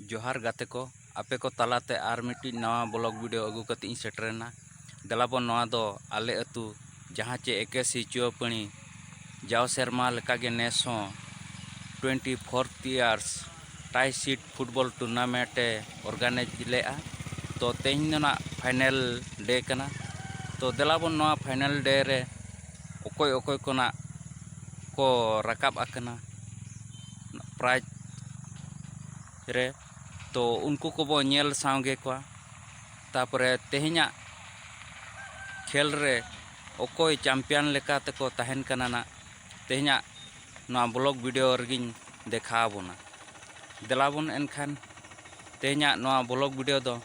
ᱡᱚᱦᱟᱨ ᱜᱟᱛᱮ ᱠᱚ ᱟᱯᱮ ᱠᱚ ᱛᱟᱞᱟᱛᱮ ᱟᱨ ᱢᱤᱫᱴᱤᱡ ᱱᱟᱣᱟ ᱵᱞᱚᱜ ᱵᱷᱤᱰᱤᱭᱳ ᱟᱹᱜᱩ ᱠᱟᱛᱮ ᱤᱧ ᱥᱮᱴᱮᱨᱮᱱᱟ ᱫᱮᱞᱟᱵᱚᱱ ᱱᱚᱣᱟ ᱫᱚ ᱟᱞᱮ ᱟᱹᱛᱩ ᱡᱟᱦᱟᱸ ᱪᱮ ᱮᱠᱮᱥᱤ ᱪᱩᱣᱟᱹᱯᱟᱹᱬᱤ ᱡᱟᱣ ᱥᱮᱨᱢᱟ ᱞᱮᱠᱟᱜᱮ ᱱᱮᱥ ᱦᱚᱸ twenty fourth years tie sheet football tournament ᱮ ᱚᱨᱜᱟᱱᱟᱭᱤᱡᱽ ᱞᱮᱫᱼᱟ ᱛᱚ ᱛᱮᱦᱮᱧ ᱫᱚ ᱱᱟᱜ ᱯᱷᱟᱭᱱᱮᱞ ᱰᱮ ᱠᱟᱱᱟ ᱛᱚ ᱫᱮᱞᱟᱵᱚᱱ ᱱᱚᱣᱟ ᱯᱷᱟᱭᱱᱮᱞ ᱰᱮ ᱨᱮ ᱚᱠᱚᱭ ᱚᱠᱚᱭ ᱠᱚ ᱱᱟᱜ ᱠᱚ ᱨᱟᱠᱟᱵ ᱟᱠᱟᱱᱟ ᱯᱨᱟᱭᱤᱡᱽ ᱨᱮ ᱛᱚ ᱩᱱᱠᱩ ᱠᱚᱵᱚ ᱧᱮᱞ ᱥᱟᱶᱜᱮ ᱠᱚᱣᱟ ᱛᱟᱯᱚᱨᱮ ᱛᱮᱦᱮᱧᱟᱜ ᱠᱷᱮᱞ ᱨᱮ ᱚᱠᱚᱭ ᱪᱟᱢᱯᱤᱭᱟᱱ ᱞᱮᱠᱟ ᱛᱮᱠᱚ ᱛᱟᱦᱮᱱ ᱠᱟᱱᱟ ᱱᱟᱜ ᱛᱮᱦᱮᱧᱟᱜ ᱱᱚᱣᱟ ᱵᱞᱚᱠ ᱵᱷᱤᱰᱤᱭᱳ ᱨᱮᱜᱮᱧ ᱫᱮᱠᱷᱟᱣ ᱟᱵᱚᱱᱟ ᱫᱮᱞᱟᱵᱚᱱ ᱮᱱᱠᱷᱟᱱ ᱛᱮᱦᱮᱧᱟᱜ ᱱᱚᱣᱟ ᱵᱞᱚᱠ ᱵᱷᱤᱰᱤᱭᱳ ᱫᱚ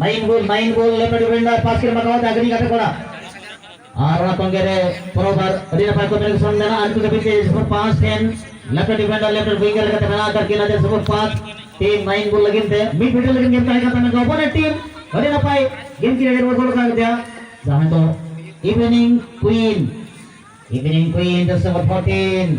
ᱱᱟᱭᱤᱱ ᱜᱳᱞ ᱱᱟᱭᱤᱱ ᱜᱳᱞ ᱞᱮᱯᱮ ᱰᱤᱯᱮᱱᱰᱟ ᱯᱟᱥ ᱠᱤᱨᱢᱟ ᱠᱟᱣᱟ ᱛᱮ ᱟᱜᱨᱤ ᱜᱟᱛᱮ ᱠᱚᱲᱟ ᱟᱨ ᱚᱱᱟ ᱛᱚᱝᱜᱮ ᱨᱮ ᱯᱨᱚᱵᱟᱨ ᱟᱹᱰᱤ ᱱᱟᱯᱟᱭ ᱠᱚᱢᱤᱱᱤᱠᱮᱥᱚᱱ ᱢᱮᱱᱟᱜᱼᱟ ᱟᱹᱰᱤ ᱠᱟᱹᱴᱤᱡ ᱛᱮ ᱥᱠᱳᱨ ᱯᱟᱸᱪ ᱴᱷᱮᱱ ᱞᱮᱯᱮ ᱰᱤᱯᱮᱱᱰᱟ ᱞᱮᱯᱮ ᱩᱭᱤᱝᱜᱟᱨ ᱞᱮᱠᱟᱛᱮ ᱢᱮᱱᱟᱜ ᱟᱠᱟᱫ ᱠᱤᱱᱟ ᱡᱮ ᱥᱠᱳᱨ ᱯᱟᱸᱪ ᱴᱤᱢ ᱱᱟᱭᱤᱱ ᱜᱳᱞ ᱞᱟᱹᱜᱤᱫ ᱛᱮ ᱢᱤᱫ ᱵᱷᱤᱰᱤᱭᱳ ᱞᱟᱹᱜᱤᱫ ᱜᱮᱢ ᱛᱟᱦᱮᱸ ᱠᱟᱱ ᱛᱟᱦᱮᱸ ᱠᱚ ᱚᱯᱚᱱᱮᱱᱴ ᱴᱤᱢ ᱟᱹᱰᱤ ᱱᱟᱯᱟᱭ ᱜᱮᱢ ᱠᱤᱱ ᱟᱹᱰᱤ ᱜᱳᱞ ᱠᱟᱱ ᱛᱟᱭᱟ ᱡᱟᱦᱟᱸ ᱫᱚ ᱤᱵᱷᱤᱱᱤᱝ ᱠᱩᱭᱤᱱ ᱤᱵᱷᱤᱱᱤᱝ ᱠᱩᱭᱤᱱ ᱫᱚ ᱥᱠᱳᱨ 14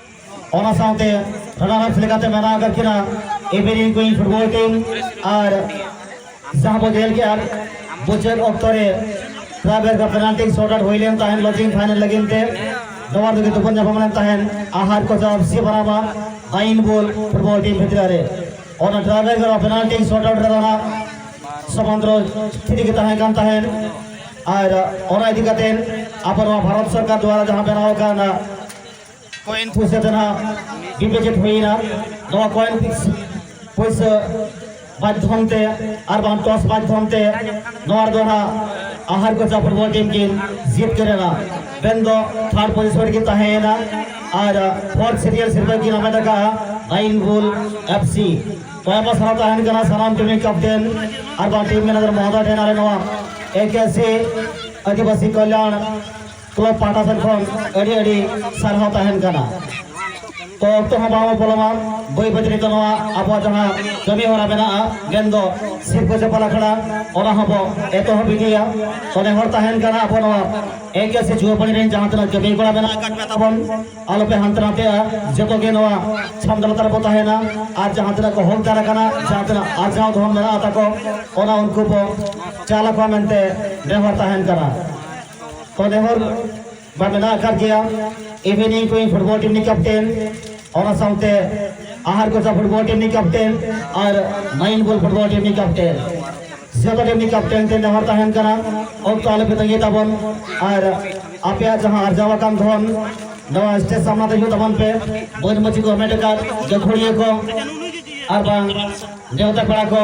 ᱚᱱᱟ ᱥᱟᱶᱛᱮ ᱨᱟᱱᱟᱨᱟᱯᱥ ᱞᱮᱠᱟᱛᱮ ᱢᱮᱱᱟᱜ ᱟᱠᱟᱫ ᱠᱤᱱᱟ ᱮᱵᱮᱨᱤ ᱠᱩᱭᱤᱱ ᱯᱷᱩᱴᱵᱚᱞ ᱴᱤᱢ ᱟᱨ ᱡᱟᱦᱟᱸ ᱵᱚ ᱧᱮᱞ ᱠᱮᱫ ᱟᱨ ᱢᱩᱪᱟᱹᱫ ᱚᱠᱛᱚ ᱨᱮ ᱯᱨᱟᱭᱵᱷᱮᱴ ᱫᱚ ᱯᱮᱱᱟᱞᱴᱤ ᱥᱚᱨᱴ ᱟᱣᱩᱴ ᱦᱩᱭ ᱞᱮᱱ ᱛᱟᱦᱮᱸᱫ ᱞᱚᱡᱤᱝ ᱯᱷᱟᱭᱱᱮᱞ ᱞᱟᱹᱜᱤᱫ ᱛᱮ ᱱᱚᱣᱟ ᱨᱮᱜᱮ ᱛᱩᱯᱩᱱ ᱧᱟᱯᱟᱢ ᱞᱮᱱ ᱛᱟᱦᱮᱸᱫ ᱟᱦᱟᱨ ᱠᱚ ᱡᱟᱵ ᱥᱤ ᱵᱟᱨᱟᱵᱟ ᱟᱭᱤᱱ ᱵᱚᱞ ᱯᱷᱩᱴᱵᱚᱞ ᱴᱤᱢ ᱵᱷᱤᱛᱨᱤ ᱨᱮ ᱚᱱᱟ ᱯᱨᱟᱭᱵᱷᱮᱴ ᱫᱚ ᱯᱮᱱᱟᱞᱴᱤ ᱥᱚᱨᱴ ᱟᱣᱩᱴ ᱨᱮᱫᱚ ᱦᱟᱸᱜ ᱥᱚᱢᱟᱱᱫᱨᱚ ᱛᱷᱤᱨᱤ ᱜᱮ ᱛᱟᱦᱮᱸ ᱠᱟᱱ ᱛᱟᱦᱮᱸᱫ ᱟᱨ ᱚᱱᱟ ᱤᱫᱤ ᱠᱟᱛᱮ ᱟᱵᱚ ᱱᱚᱣᱟ ᱵᱷᱟᱨᱚᱛ ᱥᱚᱨᱠᱟᱨ ᱫᱚᱣᱟᱨᱟ ᱡᱟᱦᱟᱸ ᱵᱮᱱᱟᱣ ᱟᱠᱟᱱᱟ ᱠᱚᱭᱮᱱ ᱯᱚᱭᱥᱟ ᱫᱚ ᱱᱟᱜ ᱰᱤᱯᱚᱡᱤᱴ ᱦᱩᱭᱮᱱᱟ ᱱᱚᱣᱟ ᱠᱚᱭᱮᱱ ᱯᱷᱤᱠᱥ ᱯᱚᱭᱥᱟ ᱢᱟᱫᱽᱫᱷᱚᱢ ᱛᱮ ᱟᱨ ᱵᱟᱝ ᱴᱚᱥ ᱢᱟᱫᱽᱫᱷᱚᱢ ᱛᱮ ᱱᱚᱣᱟ ᱨᱮᱫᱚ ᱱᱟᱜ ᱟᱦᱟᱨ ᱠᱚᱪᱟ ᱯᱷᱩᱴᱵᱚᱞ ᱴᱤᱢ ᱠᱤᱱ ᱡᱤᱛᱠᱟᱹᱨᱮᱱᱟ ᱵᱮᱱ ᱫᱚ ᱛᱷᱟᱨᱰ ᱯᱚᱡᱤᱥᱚᱱ ᱨᱮᱠᱤᱱ ᱛᱟᱦᱮᱸᱭᱮᱱᱟ ᱟᱨ ᱯᱷᱳᱨᱛ ᱥᱤᱨᱤᱭᱟᱞ ᱥᱤᱨᱯᱟᱹ ᱠᱤᱱ ᱦᱟᱢᱮᱴ ᱟᱠᱟᱫᱼᱟ ᱱᱟᱭᱤᱱ ᱵᱩᱞ ᱮᱯᱷ ᱥᱤ ᱛᱟᱭᱚᱢ ᱥᱟᱨᱟ ᱛᱟᱦᱮᱱ ᱠᱟᱱᱟ ᱥᱟᱱᱟᱢ ᱴᱤᱢ ᱨᱮᱱ ᱠᱮᱯᱴᱮᱱ ᱟᱨ ᱵᱟᱝ ᱴᱤᱢ ᱢᱮᱱᱮᱡᱟᱨ ᱢᱚᱦᱚᱫᱚᱭ ᱴᱷᱮᱱ ᱟᱞᱮ ᱱᱚᱣᱟ ᱮᱠᱮᱥᱤ ᱟᱹᱫᱤᱵᱟᱹᱥᱤ ᱠᱚᱞᱭᱟᱬ ᱠᱞᱚᱵ ᱯᱟᱦᱴᱟ ᱥᱮᱫ ᱠᱷᱚᱱ ᱟᱹᱰᱤ ᱟᱹᱰᱤ ᱥᱟᱨᱦᱟᱣ ᱛᱟᱦᱮᱱ ᱠᱟᱱᱟ ᱛᱚ ᱚᱠᱛᱚ ᱦᱚᱸ ᱵᱟᱝ ᱯᱚᱞᱚᱢᱟ ᱵᱟᱹᱭ ᱵᱟᱹᱭ ᱱᱤᱛᱚᱜ ᱱᱚᱣᱟ ᱟᱵᱚᱣᱟᱜ ᱡᱟᱦᱟᱸ ᱠᱟᱹᱢᱤ ᱦᱚᱨᱟ ᱢᱮᱱᱟᱜᱼᱟ ᱢᱮᱱᱫᱚ ᱥᱤᱨᱯᱟᱹ ᱪᱟᱯᱟᱞ ᱟᱠᱷᱲᱟ ᱚᱱᱟ ᱦᱚᱸ ᱵᱚ ᱮᱛᱚᱦᱚᱵ ᱤᱫᱤᱭᱟ ᱛᱚ ᱱᱮᱦᱚᱨ ᱛᱟᱦᱮᱱ ᱠᱟᱱᱟ ᱟᱵᱚ ᱱᱚᱣᱟ ᱮᱠ ᱥᱮ ᱡᱩᱣᱟᱹᱯᱟᱹᱲᱤ ᱨᱮᱱ ᱡᱟᱦᱟᱸ ᱛᱤᱱᱟᱹᱜ ᱠᱟᱹᱢᱤ ᱠᱚᱲᱟ ᱢᱮᱱᱟᱜ ᱟᱠᱟᱫ ᱯᱮ ᱛᱟᱵᱚᱱ ᱟᱞᱚᱯᱮ ᱦᱟᱱᱛᱮ ᱱᱟᱛᱮᱜᱼᱟ ᱡᱚᱛᱚ ᱜᱮ ᱱᱚᱣᱟ ᱪᱷᱟᱢᱰᱟ ᱞᱟᱛᱟᱨ ᱨᱮᱵᱚ ᱛᱟᱦᱮᱱᱟ ᱟᱨ ᱡᱟᱦᱟᱸ ᱛᱤᱱᱟᱹᱜ ᱠᱚ ᱦᱚᱠ ᱫᱟᱨ ᱟᱠᱟᱱᱟ ᱡᱟᱦᱟᱸ ᱛᱤᱱᱟᱹᱜ ᱟᱨᱡᱟᱣ ᱫᱷᱚᱱ ᱢᱮᱱᱟᱜ ᱛᱟᱠᱚ ᱚᱱᱟ ᱩᱱᱠᱩ ᱵᱚ ᱪᱟᱞ ᱟᱠᱚᱣᱟ ᱢᱮᱱᱛᱮ ᱱᱮᱦᱚᱨ ᱛᱟᱦᱮᱱ ᱠᱟᱱᱟ ᱛᱚᱫᱮ ᱦᱚᱨ ᱵᱟ ᱢᱮᱱᱟᱜ ᱟᱠᱟᱫ ᱜᱮᱭᱟ ᱤᱵᱷᱤᱱᱤᱝ ᱠᱩᱭᱤᱝ ᱯᱷᱩᱴᱵᱚᱞ ᱴᱤᱢ ᱨᱤᱱᱤᱡ ᱠᱮᱯᱴᱮᱱ ᱚᱱᱟ ᱥᱟᱶᱛᱮ ᱟᱦᱟᱨ ᱠᱚᱪᱟ ᱯᱷᱩᱴᱵᱚᱞ ᱴᱤᱢ ᱨᱤᱱᱤᱡ ᱠᱮᱯᱴᱮᱱ ᱟᱨ ᱢᱟᱭᱤᱱ ᱵᱚᱞ ᱯᱷᱩᱴᱵᱚᱞ ᱴᱤᱢ ᱨᱤᱱᱤᱡ ᱠᱮᱯᱴᱮᱱ ᱡᱚᱛᱚ ᱴᱤᱢ ᱨᱤᱱᱤᱡ ᱠᱮᱯᱴᱮᱱ ᱛᱮ ᱱᱮᱦᱚᱨ ᱛᱟᱦᱮᱱ ᱠᱟᱱᱟ ᱚᱠᱛᱚ ᱟᱞᱚᱯᱮ ᱛᱟᱺᱜᱤ ᱛᱟᱵᱚᱱ ᱟᱨ ᱟᱯᱮᱭᱟᱜ ᱡᱟᱦᱟᱸ ᱟᱨᱡᱟᱣ ᱟᱠᱟᱱ ᱫᱷᱚᱱ ᱱᱚᱣᱟ ᱥᱴᱮᱡᱽ ᱥᱟᱢᱱᱟ ᱛᱮ ᱦᱤᱡᱩᱜ ᱛᱟᱵᱚᱱ ᱯᱮ ᱵᱟᱹᱫᱽ ᱢᱟᱹᱪᱷᱤ ᱠᱚ ᱦᱟᱢᱮᱴ ᱟᱠᱟᱫ ᱜᱟᱹᱠᱷᱩᱲᱤᱭᱟᱹ ᱠᱚ ᱟᱨ ᱵᱟᱝ ᱱᱮᱣᱛᱟ ᱯᱮᱲᱟ ᱠᱚ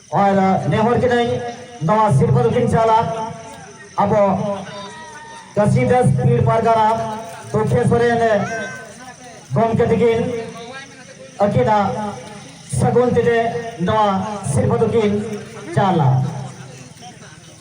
ᱟᱨ ᱱᱮᱦᱚᱨ ᱠᱤᱱᱟᱹᱧ ᱱᱚᱣᱟ ᱥᱤᱨᱯᱟᱹ ᱫᱚᱠᱤᱱ ᱪᱟᱞᱟ ᱟᱵᱚ ᱠᱟᱥᱤᱫᱟᱥ ᱯᱤᱲ ᱯᱟᱨᱜᱟᱱᱟ ᱛᱩᱠᱷᱮ ᱥᱚᱨᱮᱱ ᱜᱚᱢᱠᱮ ᱛᱤᱠᱤᱱ ᱟᱹᱠᱤᱱᱟᱜ ᱥᱟᱹᱜᱩᱱ ᱛᱮᱜᱮ ᱱᱚᱣᱟ ᱥᱤᱨᱯᱟᱹ ᱫᱚᱠᱤᱱ ᱪᱟᱞᱟ